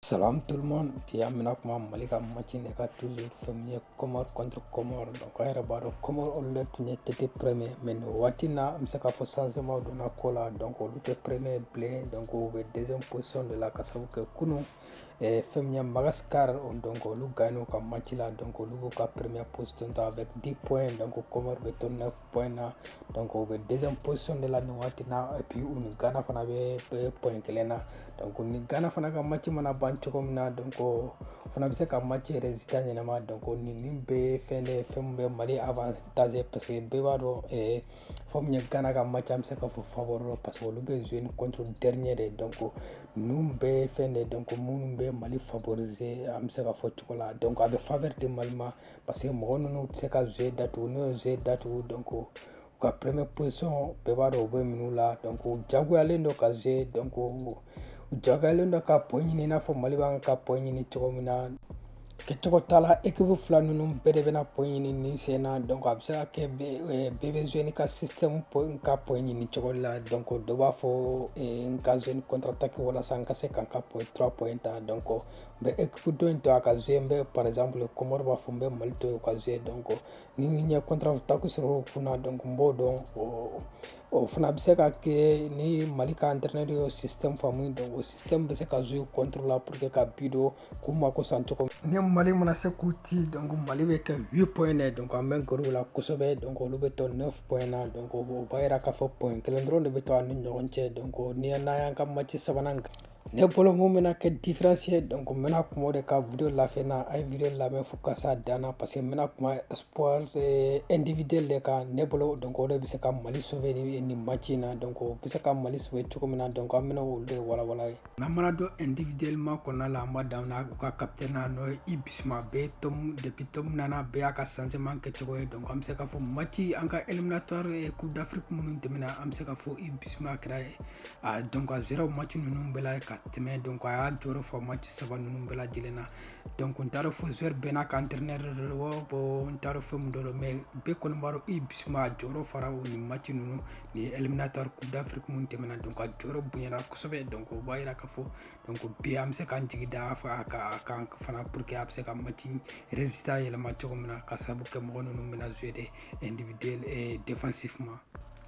Salam tout le monde bi an bɛna kuma Mali ka match de kan toujours fɛn min ye Comore contre Comore donc an yɛrɛ b'a dɔn Comore olu de tun ye tête premier mais nin waati in na an bɛ se k'a fɔ changement donna ko la donc olu tɛ premier bilen donc u bɛ deuxième position de la ka sabu kɛ kunun eh, fɛn min ye Madagascar donc olu gagnera u ka match la donc olu b'u ka première position ta avec 10 points donc Comore bɛ to 9 points na donc u bɛ deuxième position de la nin waati na et puis u ni Ghana fana bɛ point kelen na donc ni Ghana fana ka match mana ban cogo min na donc o fana bɛ se ka match résultat yɛlɛma donc nin nin bɛ fɛn de fɛn min bɛ Mali avantager parce que bɛɛ b'a dɔn ɛɛ fɛn min ye Ghana ka match an bɛ se k'a fɔ favori don parce que olu bɛ jouer ni contre dernier de donc ninnu bɛɛ fɛn de donc minnu bɛ Mali favoriser an bɛ se k'a fɔ cogo la donc a bɛ faveur di Mali ma. parce que mɔgɔ ninnu tɛ se ka jeu datugu n'u ye jeu datugu donc u ka première position bɛɛ b'a dɔn u bɛ minnu la donc u jagoyalen don ka jouer donc u jagoyalen don ka point ɲini i n'a fɔ Mali b'an ka point ɲini cogo min na kɛcogo t'a la équipe fila ninnu bɛɛ de bɛna point ɲini nin sen na donc a bɛ se ka kɛ bɛɛ bɛ jouer n'a ka système pour ka point ɲini cogo la donc dɔ b'a fɔ n ka jouer ni contre attaque walasa n ka se ka n ka point trois points ta donc N bɛ équipe dɔ in to a ka jouer n bɛ par exemple Comore b'a fɔ n bɛ Mali to ka jouer donc ni n ye contre attaque sɔrɔ u kunna donc n b'o don o fana bɛ se ka kɛ ni Mali ka entraîneur y'o système faamu donc o système bɛ se ka jouer contre la pour que ka but don k'u mako sa cogo ni Mali mana se k'u ti donc Mali bɛ kɛ 8 points ye donc an bɛ gɛrɛ u la kosɛbɛ donc olu bɛ to 9 points na donc o b'a yira k'a fɔ point kelen dɔrɔn de bɛ to an ni ɲɔgɔn cɛ donc ni n'an y'an ka match sabanan kan ne bolo min bɛna kɛ différence ye donc n bɛna kuma o de kan video la fin na a ye video lamɛn fo ka s'a dan na parce que n bɛna kuma exploit individuel eh, de kan ne bolo donc o de bɛ se ka Mali sauver ni nin match in na donc o bɛ se ka Mali sauver cogo min na donc an bɛna olu de walawala ye n'an mana don individuellement kɔnɔna la an b'a daminɛ u ka capitaine na n'o ye Yves Bissouma bɛɛ Tom depuis Tom nana bɛɛ y'a ka changement kɛcogo ye donc an bɛ se k'a fɔ match an ka éliminatoire coupe d'Afrique minnu tɛmɛna an bɛ se k'a fɔ Yves Bissouma kɛra ye donc a jouera match ninnu bɛɛ la ka tɛmɛ donc a y'a jɔyɔrɔ fa match saba ninnu bɛɛ lajɛlen na donc n t'a dɔn fo joueur bɛɛ n'a ka entraîneur de don bon n t'a dɔn fɛn min de don mais bɛɛ kɔni b'a dɔn Yves Bissouma a jɔyɔrɔ fara o ni match ninnu ni éliminatoire coupe d'Afrique minnu tɛmɛna donc a jɔyɔrɔ bonyana kosɛbɛ donc o b'a yira k'a fɔ donc bi an bɛ se k'an jigi da a kan fana pour que a bɛ se ka match résultat yɛlɛma cogo min na ka sababu kɛ mɔgɔ ninnu bɛna jouer de individuel et défensivement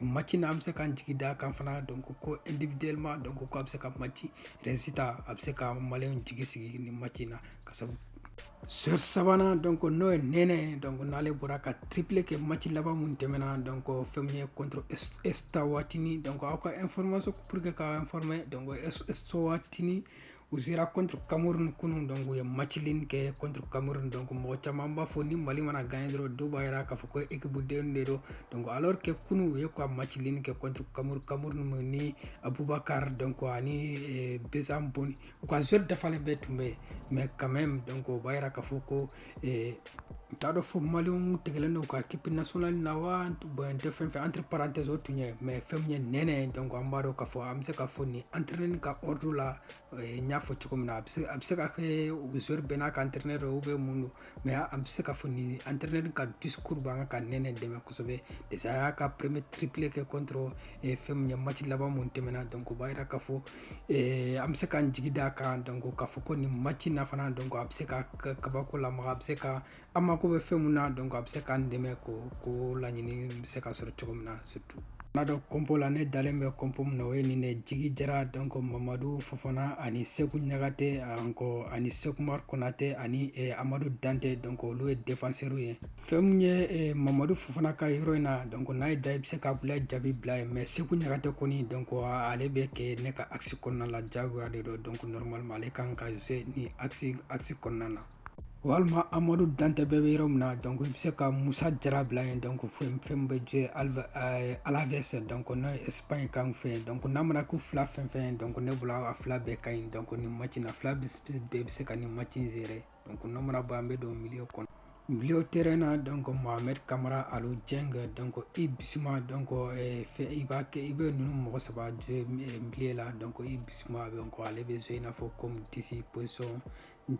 match na an bɛ se k'an jigi d'a kan fana donc ko individuellement donc ko a bɛ se ka match résultat a bɛ se ka maliyɛnw jigi sigi nin match in na ka sabu joueur sabanan donc n'o ye Nɛnɛ donc n'ale bɔra ka triplé kɛ match laban min tɛmɛna donc fɛn min ye contre Eswatini donc aw ka information pour que k'aw informer donc Eswatini U sera contre Cameroun kunun donc u ye match nul kɛ contre Cameroun donc mɔgɔ caman b'a fɔ ni Mali mana gagner dɔrɔn dɔw b'a jira k'a fɔ ko équipe den de don donc alors que kunun u ye ka match nul kɛ contre Cameroun Cameroun mun ni Abubakar donc ani eh, Besam Boni u ka joueur dafalen bɛɛ tun bɛ yen mais quand même donc o b'a jira k'a fɔ ko Ee n t'a dɔn fo maliyɛnw tigɛlen don ka équipe nationale na wa bon tɛ fɛn fɛn entre parenthèses o tun ye mais fɛn min ye Nene donc an b'a dɔn k'a fɔ an bɛ se k'a fɔ nin entraîneur ka ordre la n y'a fɔ cogo min na a a bɛ se ka kɛ joueur bɛn n'a ka entraîneur ou bien mun don mais an bɛ se k'a fɔ nin entraîneur ka discours b'a kan ka Nene dɛmɛ kosɛbɛ déjà a y'a ka premier triplé kɛ contre fɛn min ye match laban min tɛmɛna donc o b'a jira k'a fɔ Eh, an bɛ se k'an jigi da kan donc k'a fɔ ko nin match na fana donc a bɛ se ka kabako lamaga a bɛ se ka an mako bɛ fɛn min na donc a bɛ se k'an dɛmɛ ko ko laɲini bɛ se ka sɔrɔ cogo min na surtout n'an don compo la ne dalen bɛ compo min na o ye nin de Jigi Jara donc Mamadu Fofana ani Siku Ɲagate encore ani Sekumar Konate ani eh, Amadu Dante donc olu ye défenseurw ye fɛn min ye eh, Mamadu Fofana ka yɔrɔ in na donc n'a ye da i bɛ se k'Abulayi Jabi bila yen mais Siku Ɲagate kɔni donc ale bɛ kɛ ne ka axe kɔnɔna la jagoya de don donc normalement ale kan ka jouer nin axe axe kɔnɔna na walima Amadu Dante bɛɛ bɛ yɔrɔ min na donc i bɛ se ka Musa Jara bila yen donc fɛn min bɛ jouer eh, Alaves donc n'o ye Espagne kan fɛ yen donc n'a mana k'u fila fɛn fɛn donc ne bolo a fila bɛɛ ka ɲi donc nin match in na fila bɛɛ bɛ se ka nin match in gérer donc n'o mana bɔ an bɛ don milieu kɔnɔ milieu terrain na donc Mohamed Kamara Alu Dieng donc Yves Bissouma donc eh, fɛ i b'a kɛ i bɛ ninnu mɔgɔ saba jouer eh, milieu la donc Yves Bissouma donc ale bɛ jouer i n'a fɔ comme dix position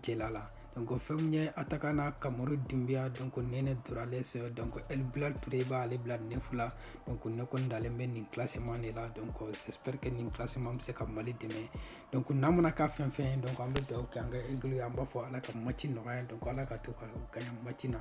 cɛla la donc fɛn min ye attaquant na Kamaru Dunbiya donc Nene Dorgeles donc El Bilal Toure i b'ale bila neuf la donc ne kɔni dalen bɛ nin classement de la donc j'espère que nin classement bɛ se ka Mali dɛmɛ donc n'a mana k'a fɛn fɛn ye donc an bɛ dugawu kɛ an ka aigles ye an b'a fɔ Ala ka match nɔgɔya donc Ala k'a to u ka gagner match na